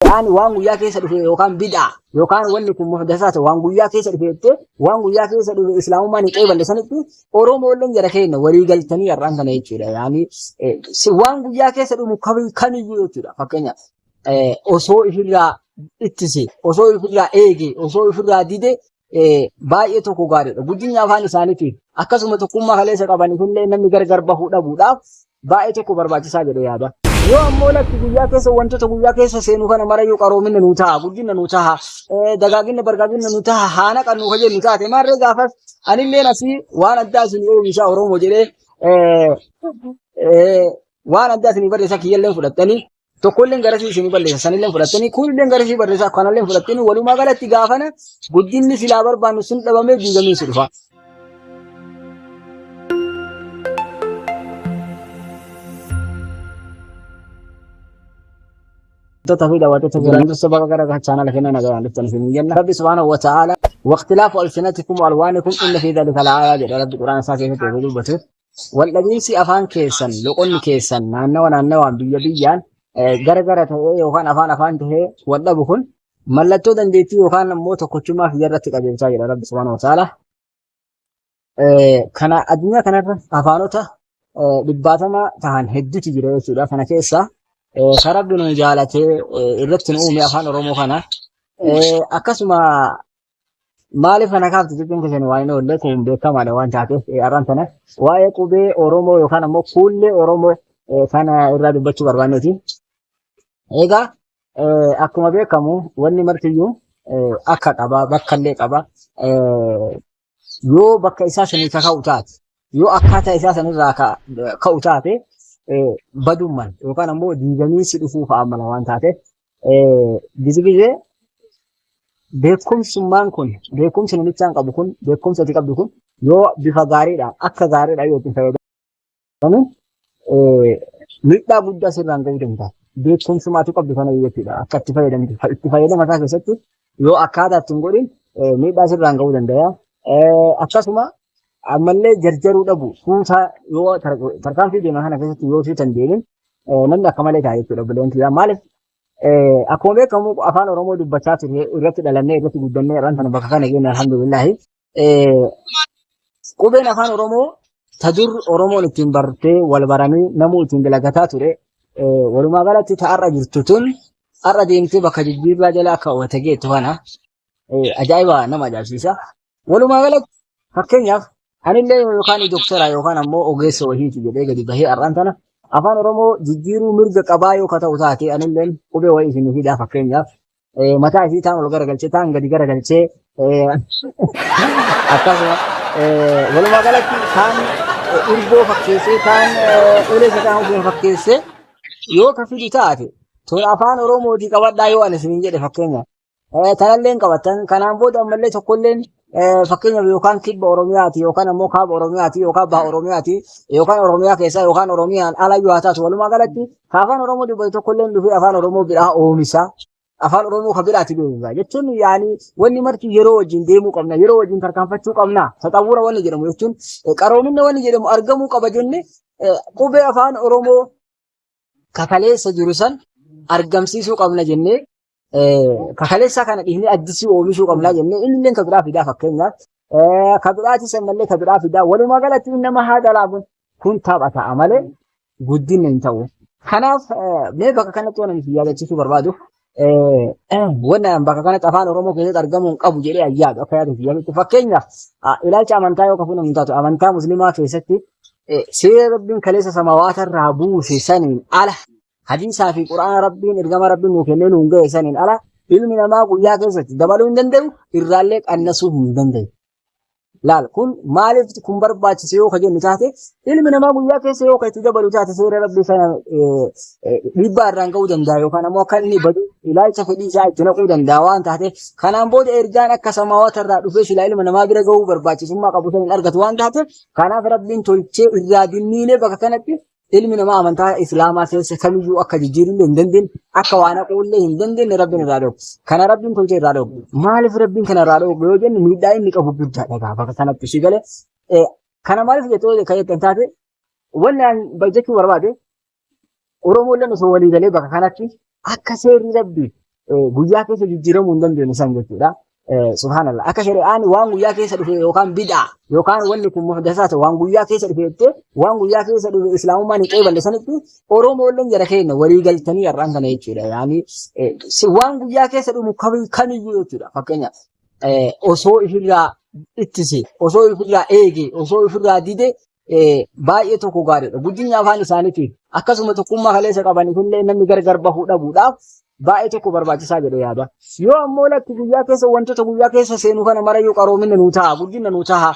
Qur'aanni waan guyyaa keessa dhufe yookaan bid'aa yookaan wanni kun muhdasaa ta'e waan guyyaa keessa dhufe jettee waan guyyaa keessa dhufe islaamummaan hin qeeballe sanitti Oromoo illee jara keenya walii galtanii har'aan kana jechuudha. Yaani eh, si- waan guyyaa keessa dhufu kami- kamiyyuu jechuudha. Fakkeenyaaf eh, osoo ifirraa ittise, osoo ifirraa eege, osoo ifirraa dide eh, baay'ee tokko gaariidha. Guddinni afaan isaaniitiif akkasuma tokkummaa kaleessa qabaniif illee namni gargar bahuu dhabuudhaaf baay'ee tokko barbaachisaa jedhee yaada. Yoo ammoo lakki guyyaa keessa wantoota guyyaa keessa seenu kana mara yoo qaroominna nu ta'a, guddinna nu ta'a, eh, dagaaginna bargaaginna nu ta'a, haana kan nu fayyadu nu taate maarree gaafas anillee asii waan addaa isin oomishaa Oromoo jedhee eh, eh, waan addaa isin barreessaa kiyyallee fudhattanii tokkolleen garasii isinii balleessa sanilleen fudhattanii kunilleen garasii barreessaa kanalleen fudhattanii walumaa galatti gaafana guddinni silaa barbaannu sun dhabamee diigamee si dhufa. Wantoota fi daawwattoota jiran dursa bakka gara gara chaanala keenya nagaan dhuftan isin jenna. Rabbi subhaanahu wa ta'aala waqtilaafu alsinatikum alwaanikum inna fi dhalika la'aayaa jedha rabbi quraana isaa keessatti yeroo dubbatu. waldhabiinsi afaan keessan loqonni keessan naannawa naannawaan biyya biyyaan eh, gara gara ta'ee yookaan afaan afaan ta'ee waldhabu kun mallattoo dandeettii yookaan immoo tokkochummaa kiyya irratti qajeelchaa jira rabbi subhaanahu wa ta'aala. Eh, Kana addunyaa kanarra afaanota eh, dhibbaatama tahan hedduutu jira jechuudha. Kana keessaa eh, kan rabbi nu jaalatee eh, irratti nu uume afaan Oromoo kana. Eh, Akkasuma Maaliif kana kaaftu jechuun keessan waa hin oolle kun beekamaadha waan taateef eh, arraan tana waa'ee qubee Oromoo yookaan ammoo fuullee Oromoo eh, kana irraa dubbachuu barbaanneeti. Egaa eh, akkuma beekamu wanni martiyyuu eh, akka qaba bakka illee qaba eh, yoo bakka isaa sanii ka ka'u taate yoo akkaataa isaa sanirraa ka- ka'u taate eh, badumman yookaan ammoo diigamiinsi dhufuu fa'a mala waan taateef Gisi gisee beekumsummaan kun beekumsi namichaan qabu kun beekumsi ati qabdu kun yoo bifa gaariidhaan akka gaariidhaan yoo itti fayyadamu miidhaa guddaa sirraan ga'uu danda'a. Beekumsummaa ati qabdu kana jechuudha akka itti fayyadamtu itti fayyadama isaa keessatti yoo akkaataa ittiin godhin miidhaa sirraan ga'uu danda'a. Akkasuma ammallee jarjaruu dhabu suutaa yoo tarkaanfii deemaa kana keessatti yoo suutan deemin eh, namni akka malee ta'a jechuudha obboleewwan kiyyaa. Maaliif eh, akkuma beekamu afaan Oromoo dubbachaa turre irratti dhalannee irratti guddannee irraan kana bakka kana geenye alhamdulillahi. Eh, Qubeen afaan Oromoo ta dur Oromoon ittiin bartee wal baranii namuu ittiin dalagataa ture eh, walumaa galatti ta har'a jirtu tun har'a deemtee bakka jijjiirraa jala akka wata geettu kana eh, ajaa'iba nama ajaa'ibsiisa. Walumaa galatti fakkeenyaaf anillee yookaan doktara yookaan ammoo ogeessa wahiiti jedhee gadi bahee har'aan tana afaan Oromoo jijjiiruu mirga qabaa yoo ka ta'u taate anillee qubee wayii isin fidaa fakkeenyaaf eh, mataa isii taan ol garagalchee taan gadi garagalchee eh, akkasuma eh, walumaa galatti taan eh, irgoo fakkeessee taan eh, ulee sakaan ofiin fakkeessee yoo ka fidu taate tun afaan Oromootii qabadhaa yoo ani isin jedhe fakkeenyaaf Eh, Kanallee hin qabatan. Kanaan booda ammallee tokkolleen eh, fakkeenyaaf yookaan kibba Oromiyaati yookaan ammoo kaaba Oromiyaati yookaan baha Oromiyaati yookaan Oromiyaa keessaa yookaan Oromiyaan ala yoo haa taatu walumaa galatti ka afaan Oromoo dubbatu tokkolleen dhufee afaan Oromoo biraa oomisha. Afaan Oromoo ka biraati beeksisa. Jechuun yaani wanni marti yeroo wajjin deemuu qabna yeroo wajjin tarkaanfachuu qabna. Taxawwura wanni jedhamu jechuun eh, qaroominna wanni jedhamu argamuu qaba jenne eh, qubee afaan Oromoo kakaleessa jiru san argamsiisuu qabna jennee kakaleessaa kana dhiifnee addisii oomishuu qabna jennee inni illee ka biraa fidaa fakkeenyaaf ka biraati sannallee ka biraa fidaa walumaa galatti inni nama haa dalaagun kun tapha ta'a malee guddinna hin ta'u. Kanaaf mee bakka kanatti waan ani yaadachiisuu barbaadu Wanni an bakka kanatti afaan Oromoo keessatti argamuu hin qabu jedhee an yaadu akka yaadu yaadu fakkeenyaaf ilaalcha amantaa yoo kafuun hin taatu amantaa musliimaa keessatti seera rabbiin kaleessa samawaata irraa buuse saniin ala hadiisaa fi quraana rabbiin ergama rabbiin nuu kennee nuun ga'e saniin ala ilmi namaa guyyaa keessatti dabaluu hin danda'u irraallee qannasuu hin danda'u. Laal kun maaliif kun barbaachise yoo ka jennu taate ilmi namaa guyyaa keessa yoo ka itti dabalu taate seera rabbii kana eh, eh, dhiibbaa irraan ga'uu danda'a yookaan ammoo akka inni badu ilaalcha fedhii isaa itti naquu danda'a waan taate kanaan booda ergaan akka samaawaata irraa dhufee silaa ilma namaa bira ga'uu barbaachisummaa qabu sana hin argatu waan taate kanaaf rabbiin tolchee irraa dinniilee bakka kanatti Ilmi namaa amantaa Islaamaa keessa kamiyyuu akka jijjiirullee hin dandeenye, akka waan haquullee hin dandeenye Rabbiin irraa dhoobu. Kana Rabbiin tolchee irraa dhoobu. Maaliif Rabbiin kana irraa dhoobu yoo jennu miidhaa inni qabu guddaadha egaa bakka kanatti ishii galee. Eh, Kana maaliif jettoo kan jettan taate wanni aan jechuu barbaade Oromoolleen osoo walii galee bakka kanatti akka seerri rabbii guyyaa keessa jijjiiramuu hin dandeenye san jechuudha. Subhaanallah. Akka shari'aan waan guyyaa keessa dhufe yookaan bid'aa yookaan wanni kun muhdasaa ta'e waan guyyaa keessa dhufe jettee waan guyyaa keessa dhufe islaamummaan hin qeeballe sanitti Oromoolleen jara keenya walii galtanii har'aan kana jechuudha. Yaani waan guyyaa keessa dhumu kamiyyuu jechuudha. Fakkeenyaaf osoo ifirraa ittise osoo ifirraa eege osoo ifirraa dide baay'ee tokko gaariidha. Guddinni afaan isaaniitiif akkasuma tokkummaa kaleessa qabaniif illee namni gargar bahuu dhabuudhaaf baay'ee tokko barbaachisaa jedhee yaada. Yoo ammoo lakki guyyaa keessa wantoota guyyaa keessa seenu kana mara yoo qaroomina nu ta'a, guddina nu ta'a,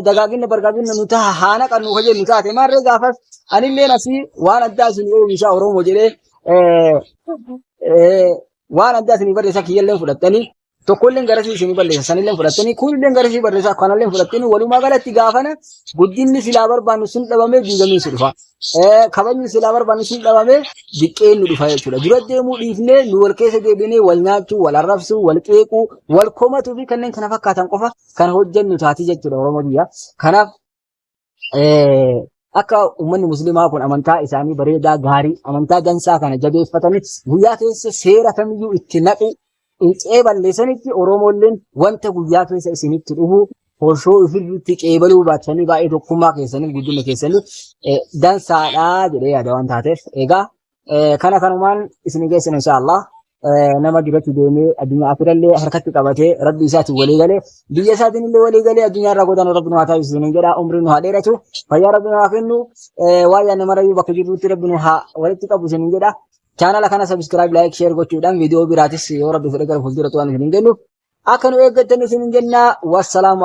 dagaagina bargaagina nu ta'a, haana kan nu hojii nu taate maarree gaafas anillee asii waan addaa isin oomishaa Oromoo jedhee waan addaa isin barreessaa kiyyallee fudhattanii tokkolleen garasii isinii balleessa sanilleen fudhattanii kunilleen garasii barreessaa kanalleen fudhattanii walumaa galatti gaafana guddinni silaa barbaannu sun dhabamee diigamee si dhufa. Kabajni silaa barbaannu sun dhabamee diqqeen nu dhufa jechuudha. Dura deemuu dhiifnee nu wal keessa deebinee wal nyaachuu, wal arrabsuu, wal qeequu, wal komatuu fi kanneen kana fakkaatan qofa kan hojjennu taati jechuudha Oromoo biyya. Kanaaf akka uummanni musliimaa kun amantaa isaanii bareedaa gaarii amantaa dansaa kana jabeeffatanii guyyaa keessa seera kamiyyuu itti naqu qe'ee balleessanitti Oromoolleen wanta guyyaa keessa isinitti dhufu hoshoo ofirratti qeebaluu baattanii baay'ee tokkummaa keessanii guddina keessanii dansaadhaa jedhee yaada waan taateef egaa Eh, Kana kanumaan isin geessan inshaallah. Eh, Nama duratti deemee addunyaa akirallee harkatti qabatee rabbi isaatiin walii galee biyya isaatiin illee walii galee addunyaa irraa godaan rabbi nu haa taasisu isin jedha umrii nu haa dheeratu fayyaa rabbi nu haa kennu eh, waan yaadne marayyuu bakka jirrutti rabbi nu haa walitti qabu isin jedha. Chaanala kana sabiskiraayib laayik sheer gochuudhaan viidiyoo biraatis yoo rabbi fedhe gara fuulduraatti waan isin hin kennuuf akka nu eeggattan isin jenna wassalaamu